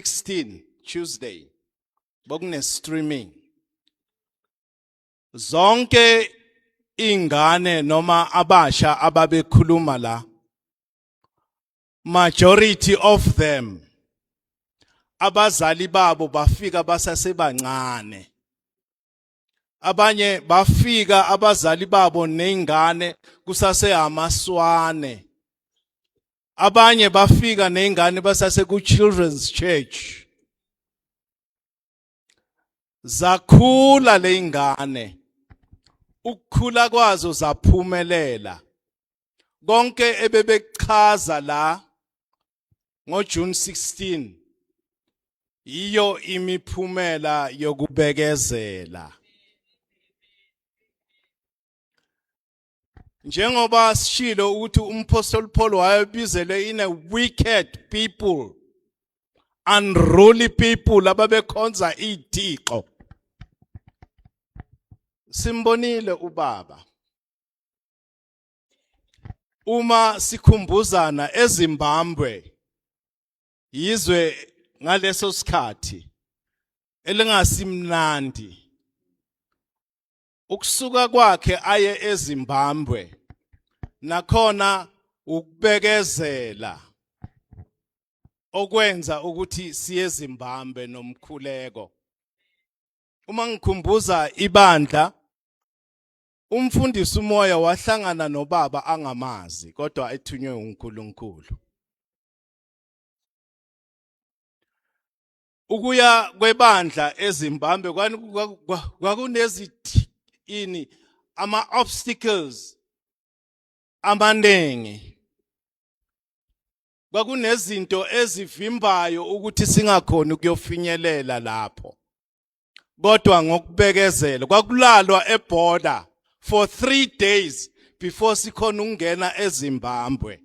16 Tuesday bokune streaming zonke ingane noma abasha ababekhuluma la majority of them abazali babo bafika basasebancane abanye bafika abazali babo nezingane kusasehamaswane abanye bafika nezingane basase ku children's church zakhula lezingane ukukhula kwazo zaphumelela konke ebebekuchaza la ngoJune 16 yiyo imiphumela yokubekezela njengoba sishilo ukuthi umphostoli Paul wayebizele in a wicked people unruly people ababekhonza izithixo simbonile ubaba uma sikhumbuzana eZimbabwe yizwe ngaleso sikhathi elingasimnandi ukusuka kwakhe aye eZimbabwe nakhona ukubekezela okwenza ukuthi siye eZimbabwe nomkhuleko uma ngikhumbuza ibandla Umfundisi umoya wahlangana nobaba angamazi kodwa ethunywe uNkulunkulu. Ukuya kwebandla eZimbabwe kwakunezithini ini ama obstacles amaningi kwakunezinto ezivimbayo ukuthi singakhona ukuyofinyelela lapho kodwa ngokubekezela kwakulalwa eborder for 3 days before sikhona ukungena eZimbabwe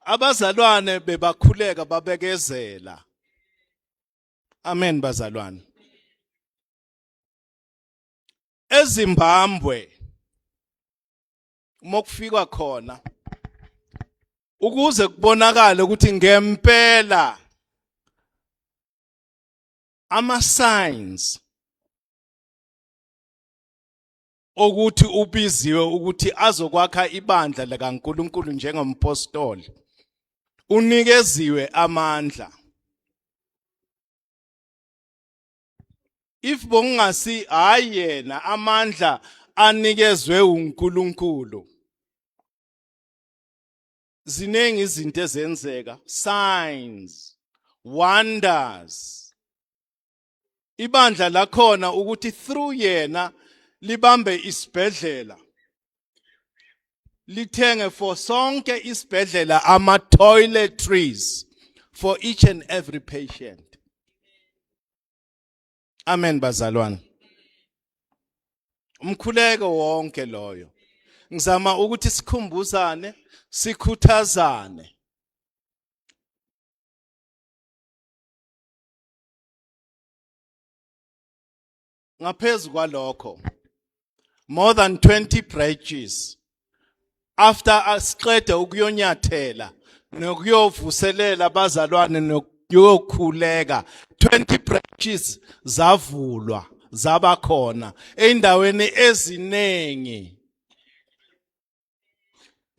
abazalwane bebakhuleka babekezela amen bazalwane eZimbabwe uma kufikwa khona ukuze kubonakale ukuthi ngempela ama signs okuthi ubiziwe ukuthi azokwakha ibandla likaNkuluNkulu njengompostoli unikeziwe amandla if bongasi hayi yena amandla anikezwe uNkulunkulu ziningi izinto ezenzeka signs wonders ibandla lakhona ukuthi through yena libambe isibhedlela lithenge for sonke isibhedlela ama toiletries for each and every patient Amen bazalwane. Umkhuleko wonke loyo. Ngizama ukuthi sikhumbuzane, sikhuthazane. Ngaphezulu kwalokho more than 20 branches after asiqede ukuyonyathela nokuyovuselela abazalwane nokuyokhuleka 20 branches zavulwa zaba khona eindaweni eziningi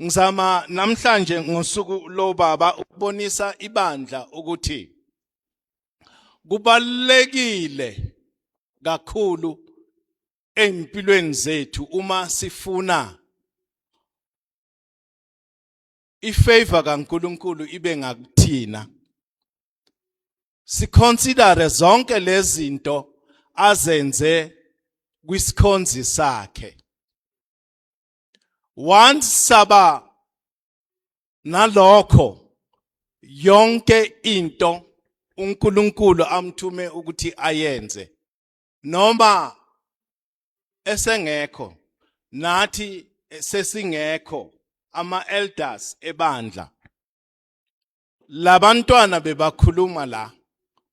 Ngizama namhlanje ngosuku lobaba ukubonisa ibandla ukuthi kubalekile kakhulu empilweni zethu uma sifuna ifavor kaNkuluNkulu ibe ngakuthina siconsidere zonke lezinto azenze kwisikhonzi sakhe once saba nalokho yonke into uNkulunkulu amthume ukuthi ayenze noma esengekho nathi sesingekho ama elders ebandla labantwana bebakhuluma la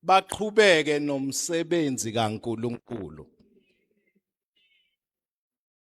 baqhubeke nomsebenzi kaNkuluNkulu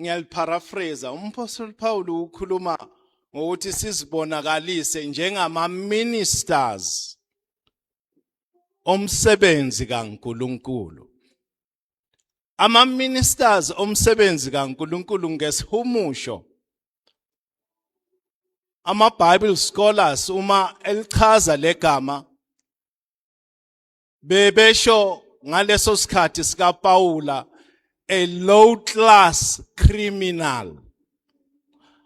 ngiyaliparaphrase umphostoli Paul ukhuluma ngokuthi sizibonakalise njengama ministers omsebenzi kaNkuluNkulu ama ministers omsebenzi kaNkuluNkulu ngesihumusho ama Bible scholars uma elichaza legama bebesho ngaleso sikhathi sika Paula a low class criminal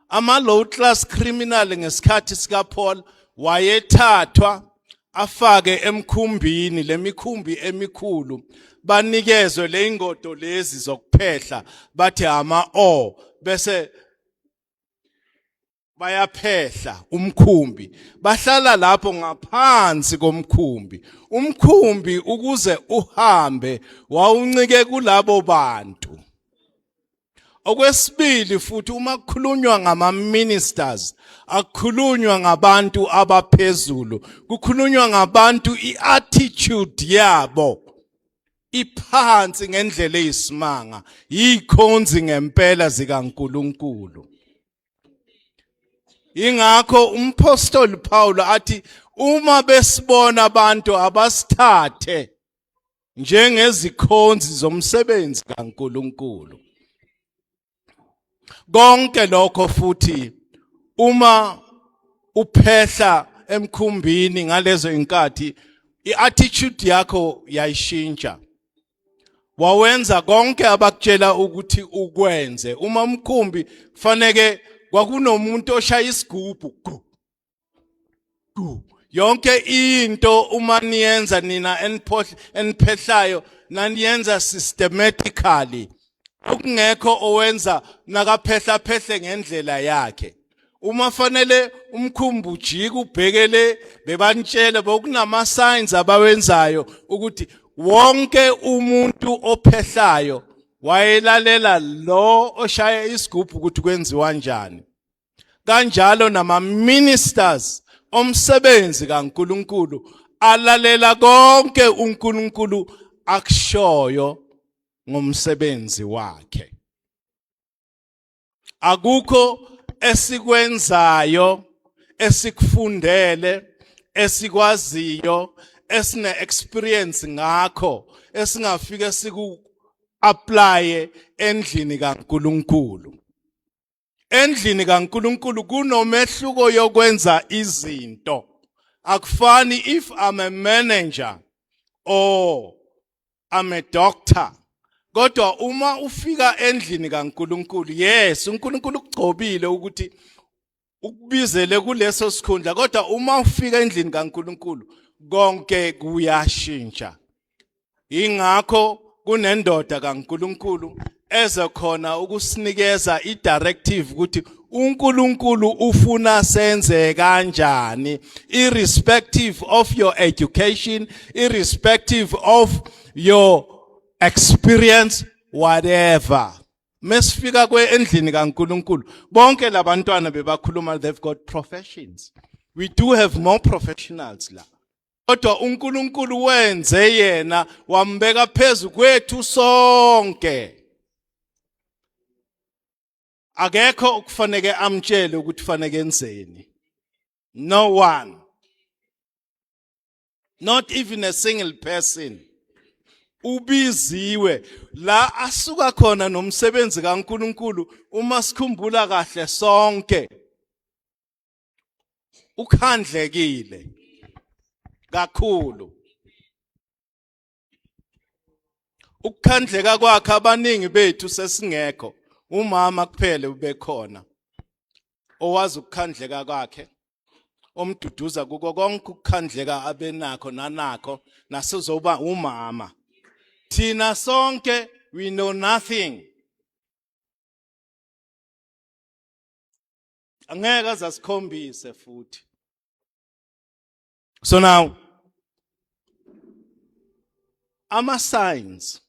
ama low class criminal ngesikhathi sika Paul wayethathwa afake emkhumbini lemikhumbi emikhulu banikezwe leingodo lezi zokuphehla bathi ama o bese bayaphehla umkhumbi bahlala lapho ngaphansi komkhumbi umkhumbi ukuze uhambe wawuncike kulabo bantu okwesibili futhi uma kukhulunywa ngama ministers akukhulunywa ngabantu abaphezulu kukhulunywa ngabantu iattitude yabo iphansi ngendlela eyisimanga yikhonzi ngempela zikaNkuluNkulu ingakho umphostoli Paulo athi uma besibona abantu abasithathe njengezikhonzi zomsebenzi kaNkuluNkulu konke lokho futhi uma uphehla emkhumbini ngalezo inkathi iattitude yakho yayishintsha wawenza konke abakutshela ukuthi ukwenze uma umkhumbi kufaneke kwakunomuntu oshaya isigubhu yonke into uma niyenza nina eniphohle eniphehlayo naniyenza systematically okungekho owenza nakaphehla phehle ngendlela yakhe uma fanele umkhumbu ujike ubhekele bebanitshele bokunama signs abawenzayo ukuthi wonke umuntu ophehlayo wayelalela lo oshaya isigubhu ukuthi kwenziwa kanjani kanjalo nama ministers omsebenzi kaNkuluNkulu alalela konke uNkulunkulu akushoyo ngomsebenzi wakhe akukho esikwenzayo esikufundele esikwaziyo esine experience ngakho esingafike siku applye endlini kaNkuluNkulu Endlini kaNkuluNkulu kunomehluko yokwenza izinto. Akufani if I'm a manager or I'm a doctor. Kodwa uma ufika endlini kaNkuluNkulu, yes, uNkuluNkulu ukugcobile ukuthi ukubizele kuleso sikhundla, kodwa uma ufika endlini kaNkuluNkulu konke kuyashintsha. ingakho kunendoda kaNkuluNkulu eze khona ukusinikeza idirective ukuthi uNkulunkulu ufuna senze kanjani irrespective of your education irrespective of your experience whatever mesifika kweendlini kaNkuluNkulu bonke labantwana bebakhuluma they've got professions we do have more professionals la kodwa uNkulunkulu wenze yena wambeka phezu kwethu sonke akekho okufanele amtshele ukuthi fanele enzeni no one not even a single person ubiziwe la asuka khona nomsebenzi kaNkuluNkulu uma sikhumbula kahle sonke ukhandlekile kakhulu ukukhandleka kwakhe abaningi bethu sesingekho umama kuphele ubekhona owazi ukukhandleka kwakhe omduduza kuko konke ukukhandleka abenakho nanakho nasezoba umama thina sonke we know nothing angeke aze asikhombise futhi so now ama signs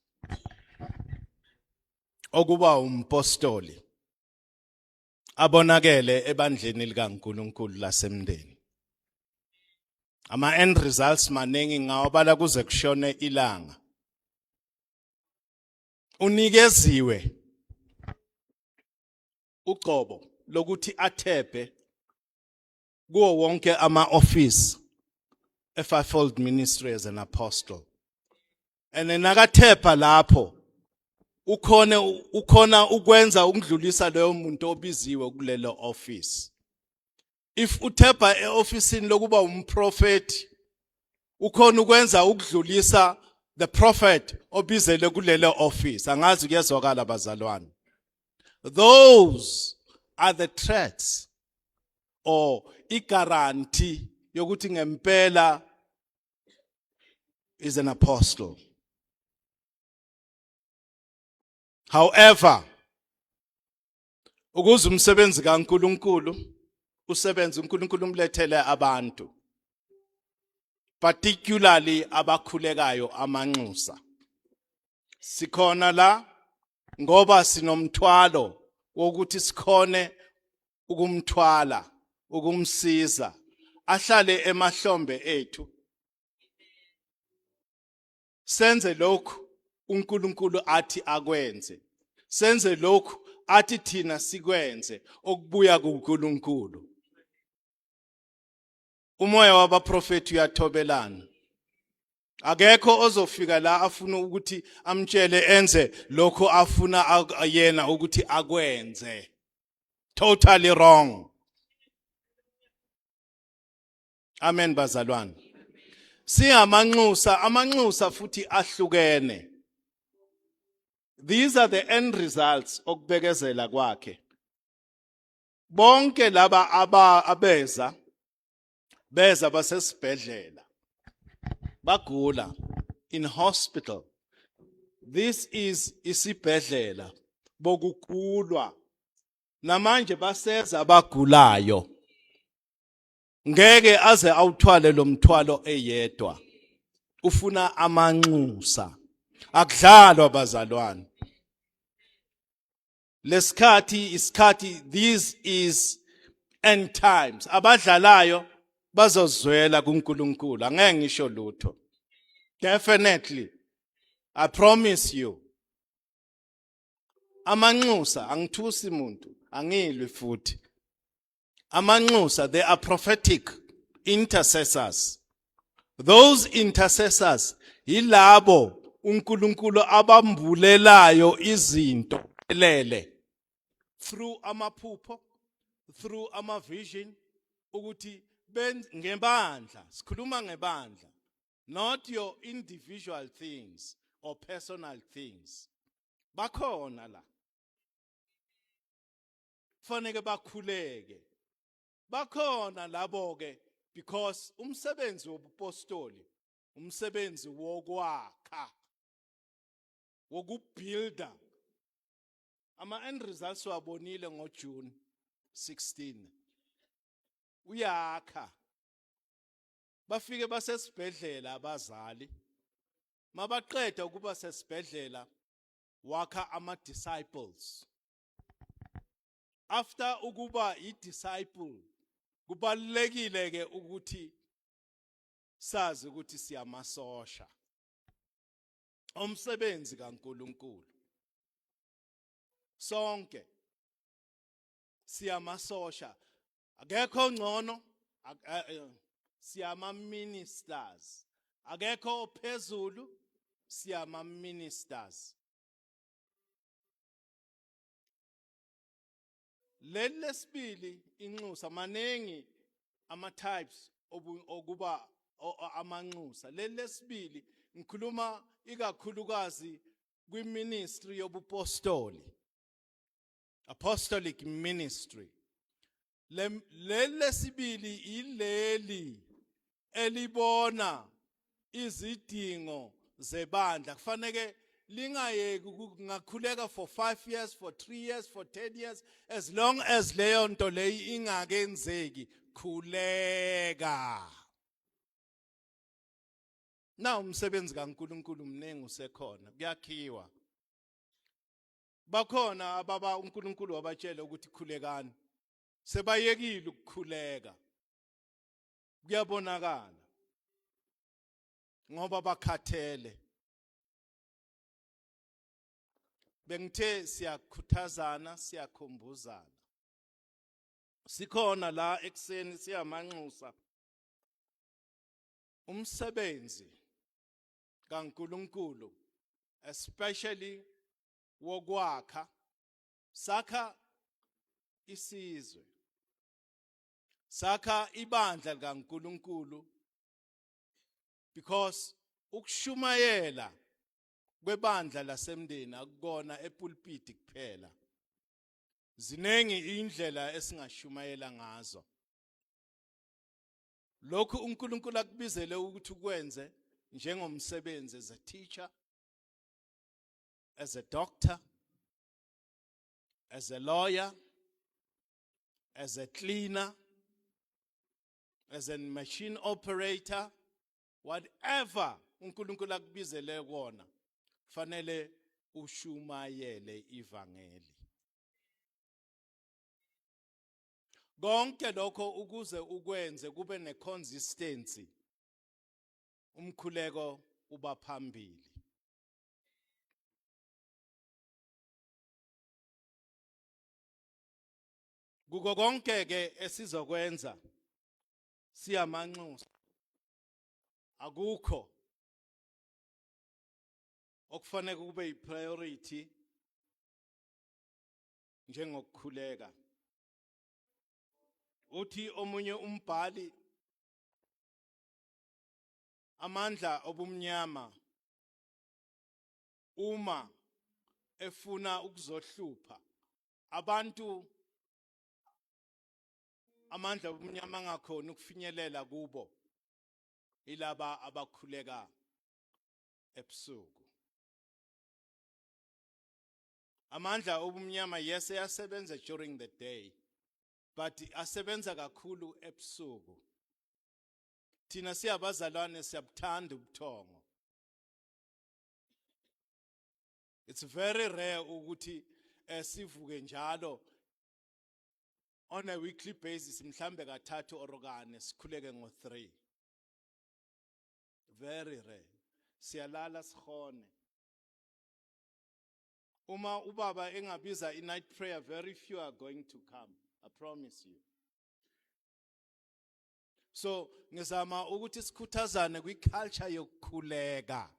okuba umpostoli abonakele ebandleni likaNkuluNkulu lasemndeni ama end results maningi ngawabala kuze kushone ilanga unikeziwe ugcobo lokuthi athebhe kuwo wonke ama-ofisi e-fivefold ministry as an apostle and nakathepha lapho ukhona ukhona ukwenza ukudlulisa leyo muntu obiziwe kulelo office if uthebha eofisini lokuba umprofeti ukhona ukwenza ukudlulisa the prophet obizele kulele office angazi kuyezwakala bazalwane those are the threats or igaranti yokuthi ngempela is an apostle however ukuze umsebenzi kaNkuluNkulu usebenze uNkuluNkulu umlethele abantu particularly abakhulekayo amanxusa sikhona la ngoba sinomthwalo wokuthi sikhone ukumthwala ukumsiza ahlale emahlombe ethu senze lokhu uNkulunkulu athi akwenze senze lokhu athi thina sikwenze okubuya kuNkulunkulu umoya wabaprofeti uyathobelana akekho ozofika la afuna ukuthi amtshele enze lokho afuna yena ukuthi akwenze totally wrong Amen bazalwane. Singamanxusa, amanxusa futhi ahlukene. These are the end results okubekezela kwakhe. Bonke laba aba abeza beza basesibhedlela bagula in hospital this is isibhedlela bokukhulwa namanje baseza abagulayo ngeke aze awuthwale lo mthwalo eyedwa ufuna amanxusa akudlalwa bazalwane lesikhathi isikhathi this is end times abadlalayo bazozwela kuNkulunkulu angeke ngisho lutho definitely i promise you amanxusa angithusi muntu angilwi futhi amanxusa they are prophetic intercessors those intercessors yilabo uNkulunkulu abambulelayo izinto elele through amaphupho through ama vision ukuthi ngebandla sikhuluma ngebandla not your individual things or personal things bakhona la kufanele bakhuleke bakhona labo ke because umsebenzi wobupostoli umsebenzi wokwakha wokubuilder ama end results wabonile ngo June 16 uyakha bafike basesibhedlela abazali mabaqeda ukuba sesibhedlela wakha ama disciples after ukuba i disciple kubalekile ke ukuthi sazi ukuthi siyamasosha umsebenzi kaNkuluNkulu sonke siyamasosha akekho ngcono eh, eh, siyama ministers akekho phezulu siyama ministers leli lesibili inxusa maningi ama types okuba amanxusa leli lesibili ngikhuluma ikakhulukazi kwiministry yobupostoli apostolic ministry leli lesibili ileli elibona izidingo zebandla kufanele lingayeki ngakhuleka for 5 years for 3 years for 10 years as long as leyo nto leyi ingakenzeki khuleka na umsebenzi kaNkuluNkulu mningi usekhona kuyakhiwa bakhona ababa uNkulunkulu wabatshela ukuthi khulekani sebayekile ukukhuleka kuyabonakala ngoba bakhathele bengithe siyakhuthazana siyakhumbuzana sikhona la ekseni siyamanxusa umsebenzi kaNkulunkulu especially wokwakha sakha isizwe sakha ibandla likaNkulunkulu because ukushumayela kwebandla lasemndeni akukona epulpiti kuphela ziningi indlela esingashumayela ngazo lokhu uNkulunkulu akubizele ukuthi ukwenze njengomsebenzi as a teacher as a doctor as a lawyer as a cleaner as a machine operator whatever uNkulunkulu akubizele kona fanele ushumayele ivangeli konke lokho ukuze ukwenze kube neconsistency umkhuleko uba phambili kuko konke ke esizokwenza siyamanxusa akukho okufanele kube yipriority njengokukhuleka. Uthi omunye umbhali amandla obumnyama uma efuna ukuzohlupha abantu amandla obumnyama angakhona ukufinyelela kubo ilaba abakhuleka ebusuku Amandla obumnyama yes eyasebenza during the day but asebenza kakhulu ebusuku. Thina siyabazalwane siyabuthanda ubuthongo. It's very rare ukuthi eh, sivuke njalo on a weekly basis mhlambe kathathu or kane sikhuleke ngo 3. Very rare. Siyalala sihone. Uma ubaba engabiza i night prayer very few are going to come. I promise you. So ngizama ukuthi sikhuthazane kwi culture yokukhuleka.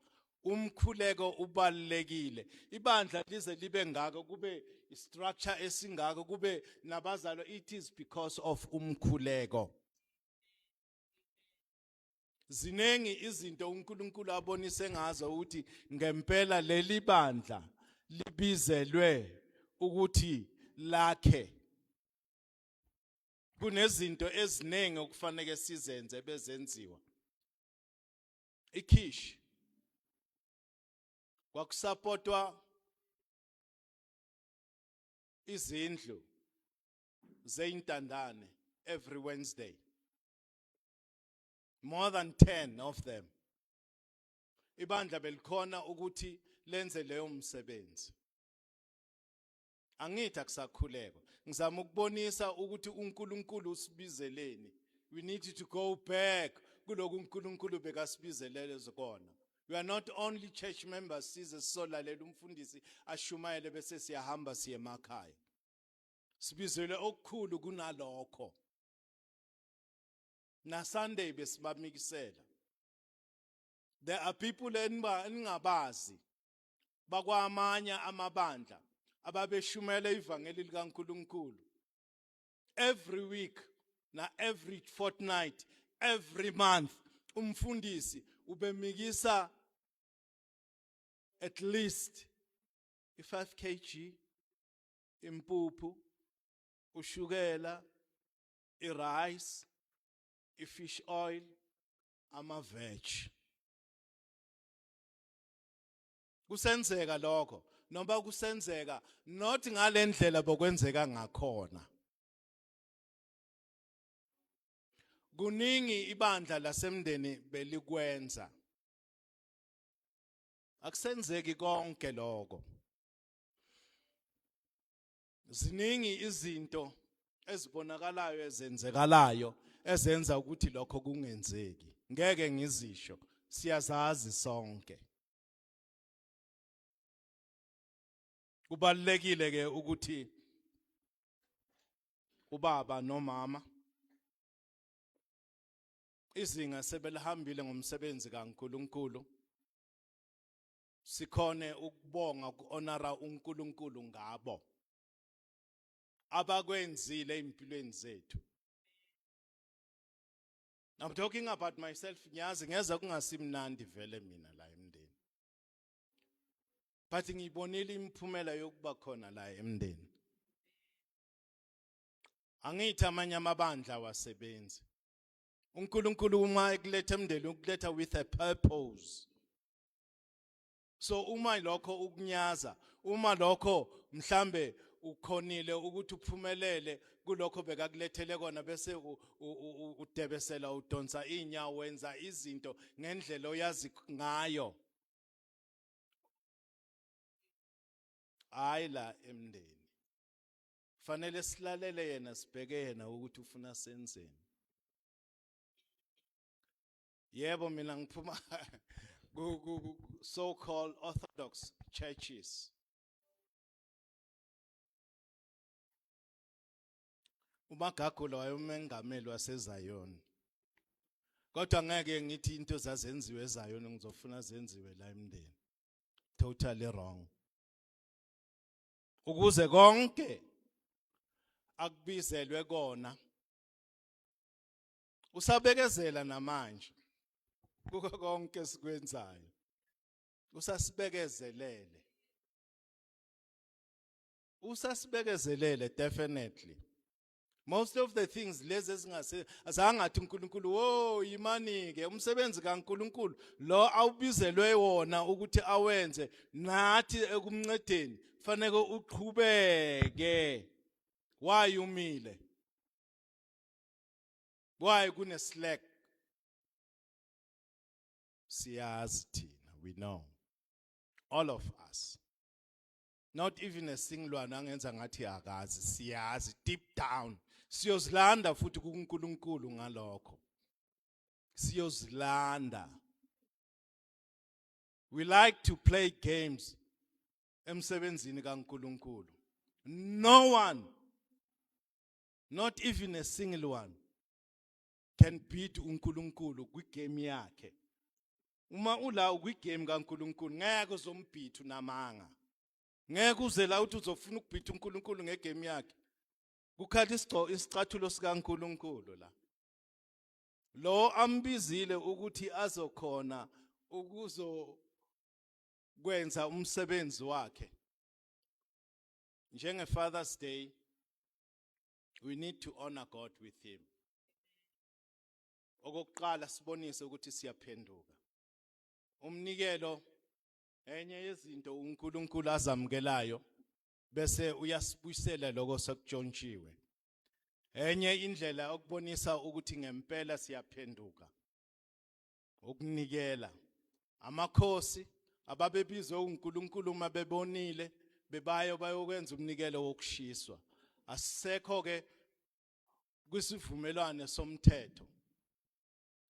Umkhuleko ubalekile. Ibandla lize libe ngako kube structure esingako kube nabazalo it is because of umkhuleko. ziningi izinto uNkulunkulu abonise ngazo ukuthi ngempela leli bandla libizelwe ukuthi lakhe kunezinto eziningi okufanele sizenze bezenziwa ikhish kwakusapotwa izindlu zeintandane every Wednesday more than 10 of them ibandla belikhona ukuthi lenze leyo msebenzi angithi akusakhuleko ngizama ukubonisa ukuthi uNkulunkulu usibizeleni we need to go back kuloku uNkulunkulu bekasibizelele zikona we are not only church members size solalela umfundisi ashumayele bese siyahamba siye emakhaya sibizelwe okukhulu kunalokho na Sunday besibamikisela there are people eningabazi bakwamanye amabandla ababeshumela ivangeli likaNkuluNkulu every week na every fortnight every month umfundisi ubemikisa at least i5 kg impuphu ushukela irice ifish oil amaveg kusenzeka lokho noma kusenzeka not ngalendlela bokwenzeka ngakhona kuningi ibandla lasemndeni belikwenza akusenzeki konke lokho ziningi izinto ezibonakalayo ezenzekalayo ezenza ukuthi lokho kungenzeki ngeke ngizisho siyazazi sonke kubalekile ke ukuthi ubaba nomama izinga sebelihambile ngomsebenzi kaNkuluNkulu sikhone ukubonga ukuonara uNkulunkulu ngabo abakwenzile empilweni zethu I'm talking about myself ngiyazi ngeza kungasimnandi vele mina la emndeni but ngiyibonile imiphumela yokuba khona la emndeni angithi amanye amabandla wasebenzi uNkulunkulu uma ekuletha emndeni ukuletha with a purpose so uma lokho ukunyaza uma lokho mhlambe ukhonile ukuthi uphumelele kulokho bekakulethele kona bese udebesela udonsa inyawo wenza izinto ngendlela oyazi ngayo hayi la emndeni fanele silalele yena sibheke yena ukuthi ufuna senzeni Yebo mina ngiphuma ku ku so called orthodox churches. uMagagula wayemengameli waseZayoni kodwa ngeke ngithi into zazenziwe eZayoni ngizofuna zenziwe la emndeni totally wrong ukuze konke akubizelwe kona usabekezela namanje kuko konke sikwenzayo usasibekezelele usasibekezelele definitely most of the things lezi ezingase azangathi uNkulunkulu wo yimani ke umsebenzi kaNkulunkulu lo awubizelwe wona ukuthi awenze nathi ekumncedeni fanele uqhubeke why umile why kune slack siyazi thina we know all of us not even a singilwane angenza ngathi akazi siyazi deep down siyozilanda futhi kuNkulunkulu ngalokho siyozilanda we like to play games emsebenzini kaNkulunkulu no one not even a single one can beat uNkulunkulu kwigame yakhe uma ula ukwigame kaNkulunkulu ngeke uzombhitha unamanga ngeke uze la uthi uzofuna ukubhitha uNkulunkulu ngegame yakhe kukhala isigqo isicathulo sikaNkulunkulu la lo ambizile ukuthi azokhona ukuzo kwenza umsebenzi wakhe njenge Father's Day we need to honor God with him okokuqala sibonise ukuthi siyaphenduka umnikelo enye yezinto uNkulunkulu azamukelayo bese uyasibuyisela lokho sekujontshiwe enye indlela okubonisa ukuthi ngempela siyaphenduka ukunikela amakhosi ababebizwe uNkulunkulu uma bebonile bebayo bayokwenza umnikelo wokushiswa asisekho ke kwisivumelwane somthetho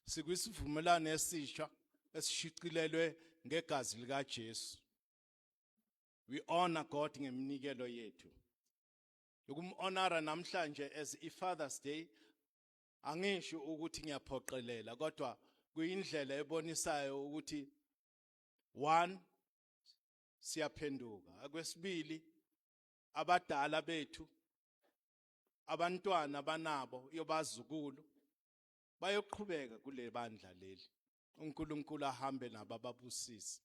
sikwisivumelwane esisha esishicilelwe ngegazi likaJesu we honor God ngeminikelo yethu ukumhonora namhlanje as i Father's Day Angisho ukuthi ngiyaphoqelela kodwa kuyindlela ebonisayo ukuthi one siyaphenduka akwesibili abadala bethu abantwana banabo yobazukulu bayoqhubeka kule bandla leli uNkulunkulu ahambe nabo ababusise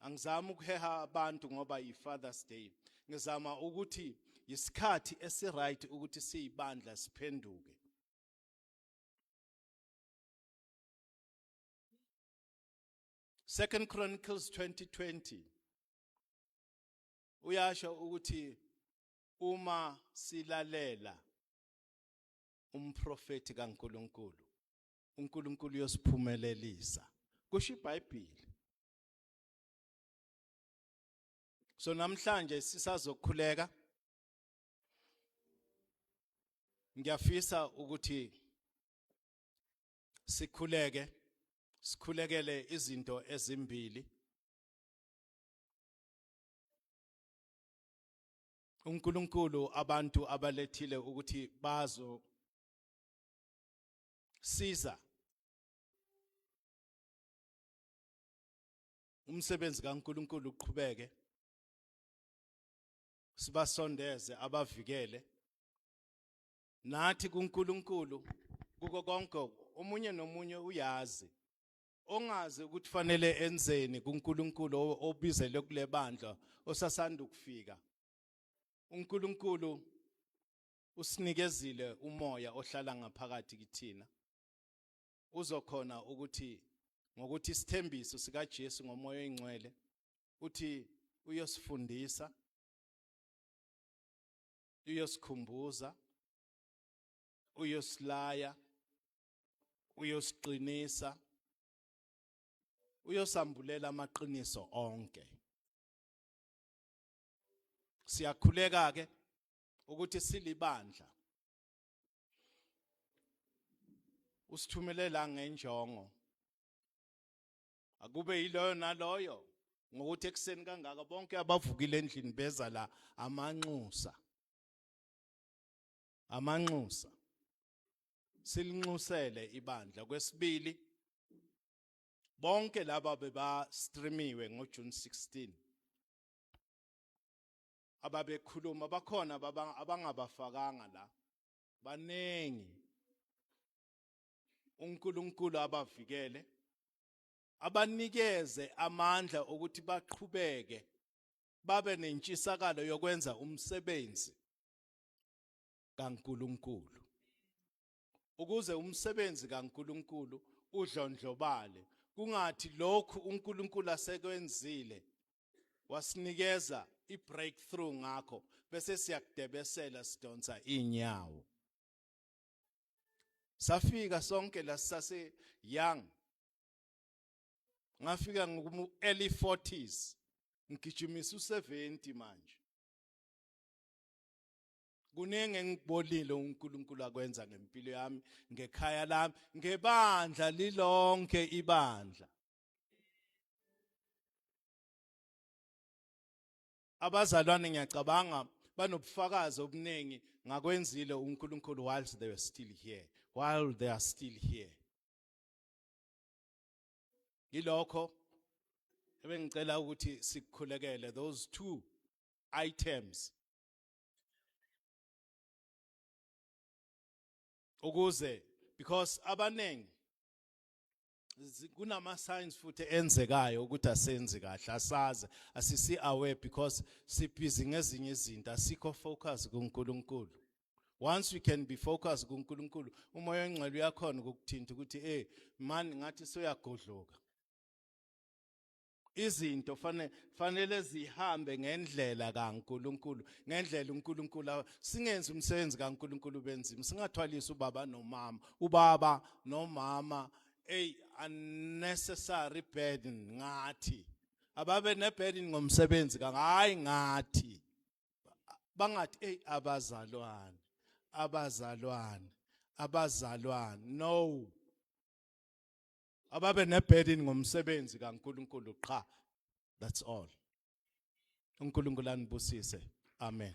angizami ukuheha abantu ngoba yiFathers Day ngizama ukuthi yisikhathi esiright ukuthi siyibandla siphenduke Second Chronicles 2020 uyasho ukuthi uma silalela umprofeti kaNkuluNkulu uNkulunkulu uyosiphumelelisa kusho iBhayibheli so namhlanje sisazokhuleka ngiyafisa ukuthi sikhuleke sikhulekele izinto ezimbili uNkulunkulu abantu abalethile ukuthi bazo siza umsebenzi kaNkuluNkulu uqhubeke sibasondeze abavikele nathi kuNkuluNkulu kuko konke omunye nomunye uyazi ongazi ukuthi fanele enzeni kuNkuluNkulu obizele kulebandla osasanda ukufika uNkuluNkulu usinikezile umoya ohlala ngaphakathi kithina uzokhona ukuthi ngokuthi isithembiso sikaJesu ngomoya oyingcwele uthi uyosifundisa uyosikhumbuza uyosilaya uyosiqinisa uyosambulela amaqiniso onke siyakhuleka ke ukuthi silibandla usithumelela ngenjongo akube yiloyo naloyo ngokuthi ekuseni kangaka bonke abavukile endlini beza la amanxusa amanxusa silinxusele ibandla kwesibili bonke laba beba streamiwe ngo June 16 ababekhuluma bakhona abangabafakanga la baningi uNkulunkulu abavikele abanikeze amandla ukuthi baqhubeke babe nentshisakalo yokwenza umsebenzi kaNkuluNkulu ukuze umsebenzi kaNkuluNkulu udlondlobale kungathi lokhu uNkulunkulu asekwenzile wasinikeza i-breakthrough ngakho bese siyakudebesela sidonsa inyawo safika sonke la sase young ngafika ngokumu early 40s ngigijimisa u70 manje kuningi engibolile uNkulunkulu akwenza ngempilo yami ngekhaya lami ngebandla lilonke ibandla abazalwane ngiyacabanga banobufakazi obuningi ngakwenzile uNkulunkulu while they were still here while they are still here yilokho ebengicela ukuthi sikukhulekele those two items ukuze because abaningi kunama signs futhi enzekayo ukuthi asenzi kahle asazi asisi aware because sibhizi ngezinye izinto asikho focus kuNkulunkulu once we can be focused kuNkulunkulu umoya ongcwele uyakhona ukukuthinta ukuthi eh man ngathi soyagodloka izinto fanele fanele zihambe ngendlela kaNkuluNkulu ngendlela uNkuluNkulu singenzi umsebenzi kaNkuluNkulu benzima singathwalisa ubaba nomama ubaba nomama a unnecessary burden ngathi ababe neburden ngomsebenzi hayi ngathi bangathi hey abazalwane abazalwane abazalwane no ababe neburden ngomsebenzi kaNkuluNkulu qha that's all uNkulunkulu anibusise amen